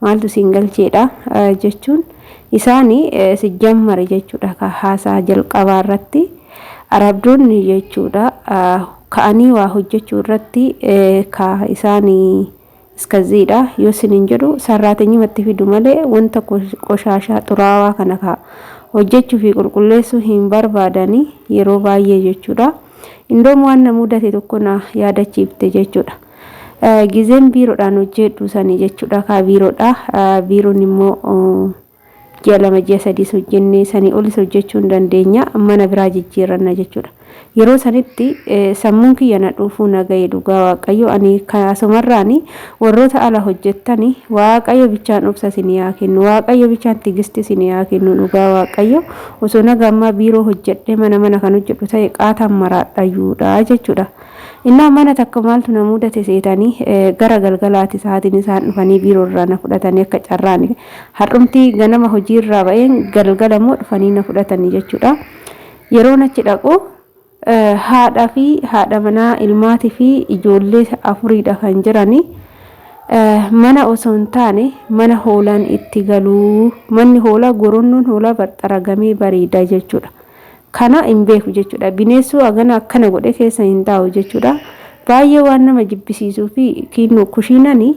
maaltu siin galcheedha jechuun isaani sijjammare jechuudha ka haasaa jalqabaa irratti arabdoonni jechuudha ka'anii waa hojjechuu irratti ka isaani iskaziidha yoo sinin jedhu sarraateenyumatti fidu malee wanta qoshaashaa xuraawaa kana ka hojjechuu fi qulqulleessuu hin barbaadani yeroo baay'ee jechuudha. Indoom waan na mudate tokko na yaadachiifte jechuudha. Gizeen biiroodhaan hojjeedhu sani jechuudha kaa biiroodha. Biiroon immoo ji'a lama ji'a sadiis hojjennee sanii olis hojjechuu hin dandeenya mana biraa jijjiirranna jechuudha. Yeroo sanitti sammuun kiyya na dhuufuu na ga'e dhugaa waaqayyo ani asumarraani warroota ala hojjettani waaqayyo bichaan obsa isin yaa kennu waaqayyo bichaan tigisti isin yaa kennu dhugaa waaqayyo osoo naga ammaa biiroo hojjedhee mana mana kan hojjedhu ta'e qaataan maraadhayyuudha jechuudha. Innaa mana takka maaltu na mudate seetanii gara galgalaati sa'aatiin isaan dhufanii biiroo irraa na fudhatanii akka carraani har'umti ganama hojii irraa ba'een galgala immoo dhufanii na fudhatanii jechuudha. Yeroon achi dhaqu haadhaa fi haadha manaa ilmaatii fi ijoollee afuriidha kan jiranii. mana osoo hin taane mana hoolaan itti galuu manni hoolaa goronnoon hoolaa barxaragamee bareeda jechuudha. Kana hin beeku jechuudha. Bineessuu hagana akkana godhe keessa hin taa'u jechuudha. Baay'ee waan nama jibbisiisuu fi kiinnu kushiinani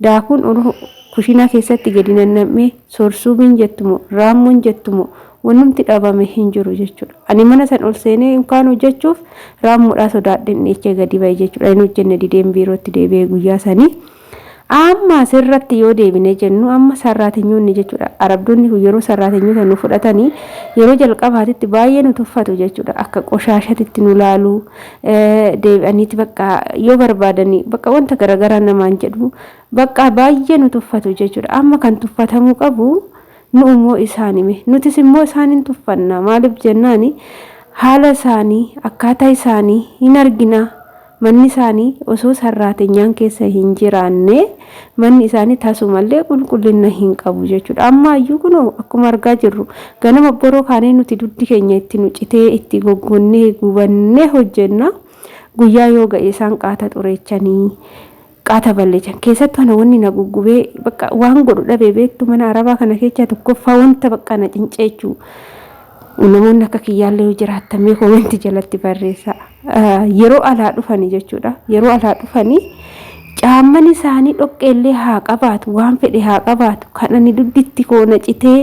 daakuun uruu kushiinaa keessatti gadi nannam'ee sorsuumiin jettumo raammoon jettumo wanumti dhabame hin jiru jechuudha. Ani mana san ol seenee kaan hojjechuuf raammoodhaa sodaadheen dhiichee gadi ba'e jechuudha. Hin hojjenne dideen biirootti deebi'ee guyyaa sanii. Amma asirratti yoo deebinee jennu amma sarraatenyoonni jechuudha. Arabdoonni kun yeroo sarraatenyoota nu fudhatanii yeroo jalqabaatitti baay'ee nu tuffatu jechuudha. Akka qoshaashatitti nu laalu deebi'aniiti bakka yoo barbaadanii bakka wanta garaagaraa namaan jedhu bakka baay'ee nu tuffatu jechuudha. Amma kan tuffatamuu qabu nu immoo isaanime. Nutis immoo isaaniin tuffanna. Maaliif jennaani haala isaanii akkaataa isaanii hin argina. Manni isaanii osoo sarraateenyaan keessa hin jiraanne manni isaanii tasumallee qulqullina hin qabu jechuudha. Amma iyyuu kunoo akkuma argaa jirru ganama boroo kaanee nuti dugdi keenya itti nu citee itti goggonnee gubannee hojjenna. Guyyaa yoo ga'e isaan qaata xureechanii qaata balleechan keessattuu ana wanni na guggubee bakka waan godhu dhabee beektu mana arabaa kana keessaa tokkoffaa wanta bakka na cinceechuu namoonni akka kiyyaallee yoo jiraattan mee koomenti jalatti barreessa yeroo alaa dhufanii jechuudha yeroo alaa dhufanii caamman isaanii dhoqqeellee haa qabaatu waan fedhe haa qabaatu kan ani dugditti koo na citee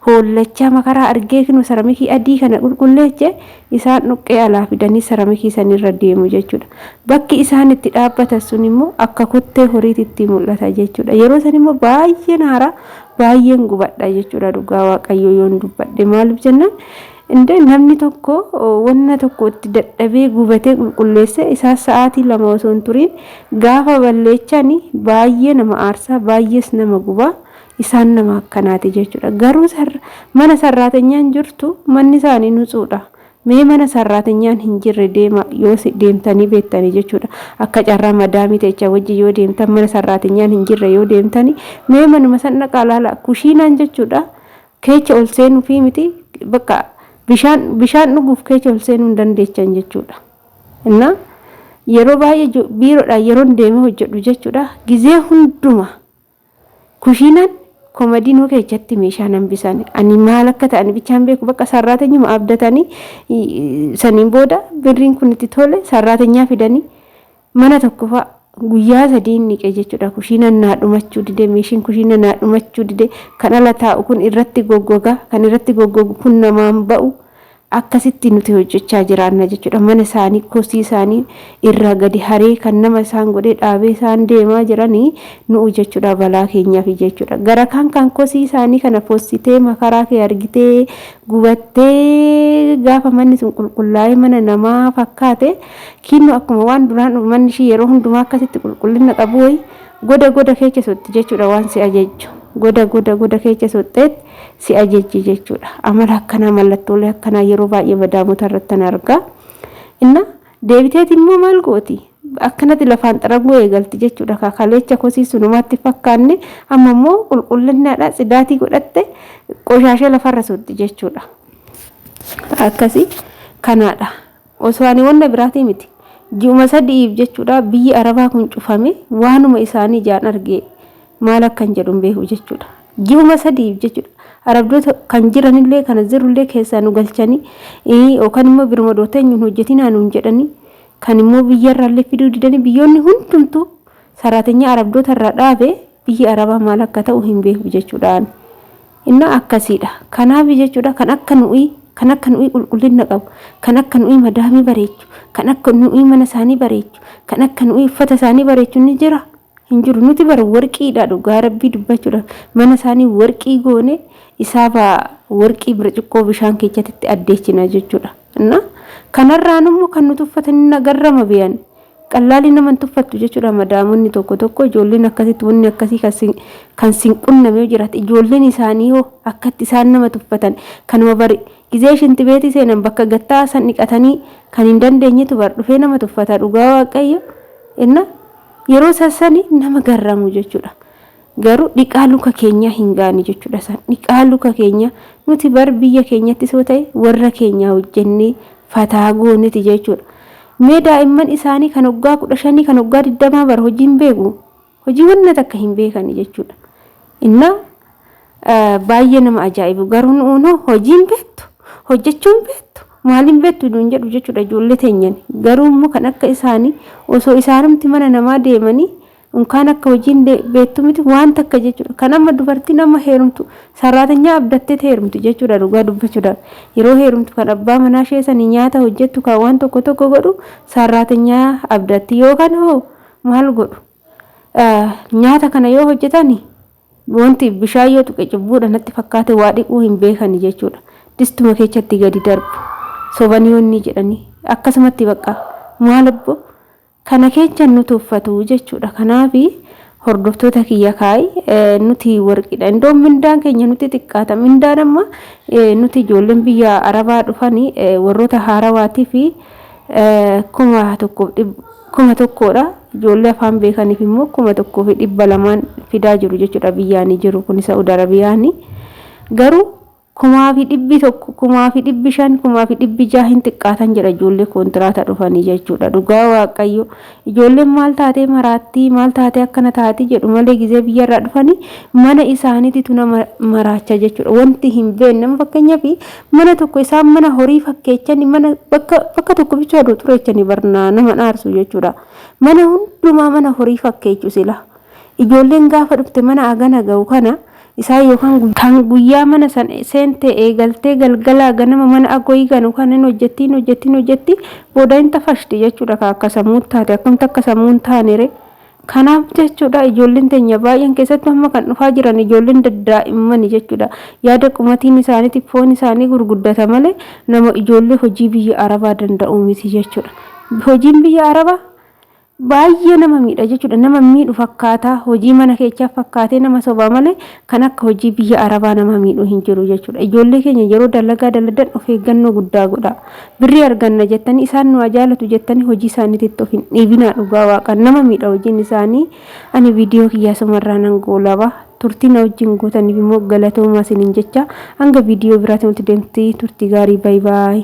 hoollachaa makaraa argee kinu saramikii adii kana qulqulleeche Isaan dhoqqee alaa fidanii seramikii san irra deemu jechuudha. Bakki isaan itti dhaabbatan sun immoo akka kottee horiitti itti mul'ata jechuudha. Yeroo san immoo baay'een haaraa baay'een gubadha jechuudha dhugaa waaqayyoo yoon dubbadhe maaliif jennaan Indee namni tokko wanna tokko itti dadhabee gubatee qulqulleesse isaa sa'aatii lama osoo hin turiin gaafa balleechani baay'ee nama aarsaa baay'ees nama gubaa Isaan nama akkanaati jechuudha. Garuu mana sarraatanyaan jirtu manni isaanii nutsuudha. Mee mana sarraatanyaan hin jirre deema yoo deemtanii beektanii jechuudha. Akka carraa madaamii ta'echa wajjin yoo deemtan mana sarraatanyaan hin jirre yoo deemtanii mee manuma san dhaqaa laala kushiinaan jechuudha. Keecha ol seenuu fi miti bakka bishaan bishaan dhuguuf keecha ol seenuu hin dandeechan jechuudha. Innaa yeroo baay'ee biiroodhaan yeroon deemee hojjedhu jechuudha. Gizee hundumaa. Kushiinaan komadiinoo keessatti meeshaan hambisan ani maal akka ta'an bichaan beeku bakka sarraatanyuma abdatanii saniin booda birriin kun itti tole sarraatanyaa fidanii mana tokko fa'a guyyaa sadii inni qe jechuudha kushiinaan naa dhumachuu dide meeshiin kushiina naa dhumachuu dide kan ala taa'u kun irratti goggoga kan irratti goggogu kun namaan ba'u akkasitti nuti hojjechaa jiraanna jechuudha mana isaanii kosii isaanii irraa gadi haree kan nama isaan godhee dhaabee isaan deemaa jiranii nu'u jechuudha balaa keenyaaf jechuudha gara kaan kan kosii isaanii kana fossitee makaraa kee argitee gubattee gaafa manni sun qulqullaa'ee mana namaa fakkaate kiinnu akkuma waan duraan manni ishii yeroo hundumaa akkasitti qulqullina qabu wayi goda goda keecha sotti jechuudha waan si ajajju goda goda goda keecha sotteetti si ajajji jechuudha. Amala akkanaa mallattoolee akkanaa yeroo baay'ee badaamota irratti tan argaa. Inna deebiteeti immoo maal gooti? Akkanatti lafaan xaraguu eegalti jechuudha. Kakaleecha kosii sunumaatti fakkaanne amma immoo qulqullinnaadha tsidaatii godhatte qoshaashee lafarra suutti jechuudha. Akkasii kanaadha. Osoo ani wanna biraatii miti. Ji'uma sadi'iif jechuudha biyyi Arabaa kun cufame waanuma isaanii jaan argee maal akkan jedhu hin beeku jechuudha. Ji'uma sadi'iif jechuudha. Arabdoota kan jiranillee kana jirullee keessaa nu galchanii yookaan immoo biruma dooteenyu hin hojjetinaa nuun jedhanii kan immoo biyyarraallee fiduu didanii biyyoonni hundumtuu saraatenyaa Arabdoota irraa dhaabe biyyi Arabaa maal akka ta'u hin beeku jechuudha ani. Inna akkasiidha. Kanaafi jechuudha kan akka nu'ii, kan akka nu'ii qulqullinna qabu, kan akka nu'ii madaamii bareechu, kan akka nu'ii mana isaanii bareechu, kan akka nu'ii uffata isaanii bareechu ni jira? Hin jiru. Nuti bara warqiidha dhugaa rabbii dubbachuudhaaf mana isaanii warqii goone isaafa warqii birciqqoo bishaan keechatitti addeechina jechuudha. Inna kanarraan immoo kan nuti uffatan hin agarrama beeyan. Qallaalli nama hin tuffattu jechuudha madaamonni tokko tokko ijoolleen akkasitti wanni akkasii kan sin kan sin qunname yoo jiraate ijoolleen isaanii hoo akkatti isaan nama tuffatan kanuma bari gizee shinti beetii seenan bakka gattaa san dhiqatanii kan hin dandeenyetu bar dhufee nama tuffata dhugaa waaqayyo inna yeroo sassani nama garramu jechuudha. Garuu dhiqaa luka keenyaa hin gaane jechuudha isaan. Dhiqaa luka keenyaa nuti bar biyya keenyattis yoo ta'e warra keenyaa hojjennee fataa gooneti jechuudha. Mee daa'imman isaanii kan waggaa kudha shanii kan waggaa digdamaa bar hojii hin beeku. Hojii wanna takka hin beekani jechuudha. Inna baay'ee nama ajaa'ibu garuu nuunoo hojii hin beektu hojjechuu hin beektu maal hin beektu nuun jedhu jechuudha ijoollee teenyan. Garuu immoo kan akka isaanii osoo isaanumti mana namaa deemanii Unkaan akka hojiin beektu miti waan takka jechuudha. Kan amma dubartiin amma heerumtu saraatanyaa abdattee heerumti jechuudha dhugaa dubbachuudhaaf. Yeroo heerumtu kan abbaa manaa ishee sanii nyaata hojjettu kan waan tokko tokko godhu saraatanyaa abdatti yookaan hoo maal godhu. Nyaata kana yoo hojjetani wanti bishaan yoo tuqe cubbuudha natti fakkaate waa dhiquu hin beekani jechuudha. Distuma keessatti gadi darbu. Sobanii wanni jedhanii akkasumatti bakka maal abboo Kana keechan nu tuffatu jechudha kanafi hordoftota kiyya kaay nuti warqidha indoo mindaan keenya nuti xiqqaata mindaan amma nuti ijoolleen biyya arabaa dhufani warrota haarawaati fi kuma tokko kuma tokkodha ijoollee afaan beekaniif immoo kuma tokko fi dhibba lamaan fidaa jiru jechudha biyyaani jiru kun sa'ud arabiyaani garuu kumaa fi dhibbi tokko, kumaa fi dhibbi shan, kumaa fi dhibbi ja'a hin xiqqaatan jedha ijoollee kontiraata dhufanii jechuudha. Dhugaa Waaqayyo ijoolleen maal taatee maraattii maal taatee akkana taatii jedhu malee gizee biyyarraa dhufanii mana isaaniititu nama maraacha jechuudha. Wanti hin beekne fakkeenyaaf mana tokko isaan mana horii fakkeechanii mana bakka bakka tokko bichaa duutureechanii barnaa nama dhaarsu jechuudha. Mana hundumaa mana horii fakkeechu sila. Ijoolleen gaafa dhufte mana agana ga'u kana isaan yookaan kan guyyaa mana san seentee eegaltee galgalaa ganama mana agoyii ganu kan hin hojjetti hin hojjetti hin hojjetti booda hin tafashti jechuudha kan akka sammuu taate akkamta akka sammuu hin taanere kanaaf jechuudha ijoolleen teenya baay'een keessatti amma kan dhufaa jiran ijoolleen daddaa'immani jechuudha yaada qumatiin isaaniitiif foon isaanii gurguddata malee nama ijoollee hojii biyya arabaa danda'uu miti jechuudha hojiin biyya arabaa Baay'ee nama miidha jechuudha. Nama miidhu fakkaata. Hojii mana keechaa fakkaatee nama sobaa malee kan akka hojii biyya Arabaa nama miidhu hin jiru jechuudha. Ijoollee keenya yeroo dalagaa daladan of eeggannoo guddaa godha. Birrii arganna jettanii isaan nu ajaalatu jettanii hojii isaaniititti of hin dhiibinaa dhugaa waaqa nama miidha hojiin isaanii. Ani viidiyoo kiyyaa sumarraa nan goolaba. Turtii na wajjin gootaniif immoo galatoomaa isiniin jecha hanga viidiyoo biraatiin walitti deemti turtii gaarii baay'ee.